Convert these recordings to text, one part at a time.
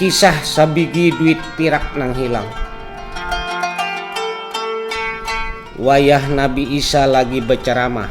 Kisah sabigi duit pirak nang hilang. Wayah Nabi Isa lagi bacaramah,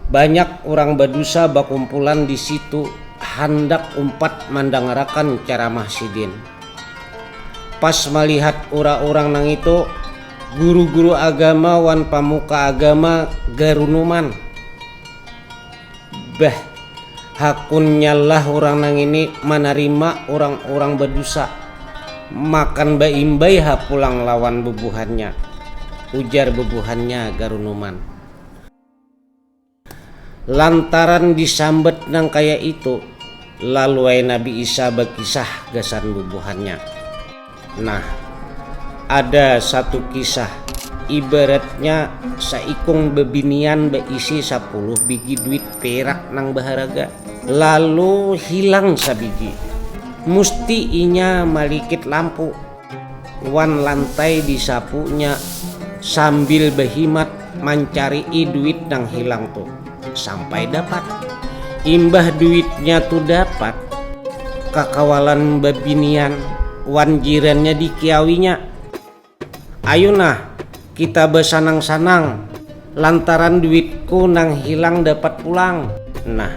banyak urang badusa bakumpulan di situ handak umpat mandangarakan caramah Sidin. Pas malihat ura-urang nangitu, guru-guru agama wan pamuka agama garunuman. Beh, hakunnyalah urang nangini manarima urang-urang badusa, makan baimbai ha pulang lawan bubuhannya, ujar bubuhannya garunuman. Lantaran disambat nang kaya itu, lalu ai Nabi Isa bakisah gasan bubuhannya. Nah, ada satu kisah, ibaratnya saikung bebinian beisi sapuluh bigi duit perak nang baharaga, lalu hilang sabigi. Musti inya malikit lampu wan lantai disapunya sambil behimat mancari'i duit nang hilang tu. sampai dapat imbah duitnya tu dapat kakawalan babinian wan jirannya dikiawinya ayu nah kita basanang-sanang lantaran duitku nang hilang dapat pulang nah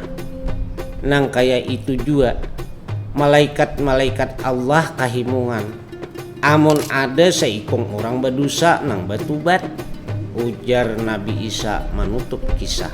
nang kaya itu jua malaikat-malaikat Allah kahimungan. Amun ada saikung urang badusa nang batubat, ujar Nabi Isa manutup kisah.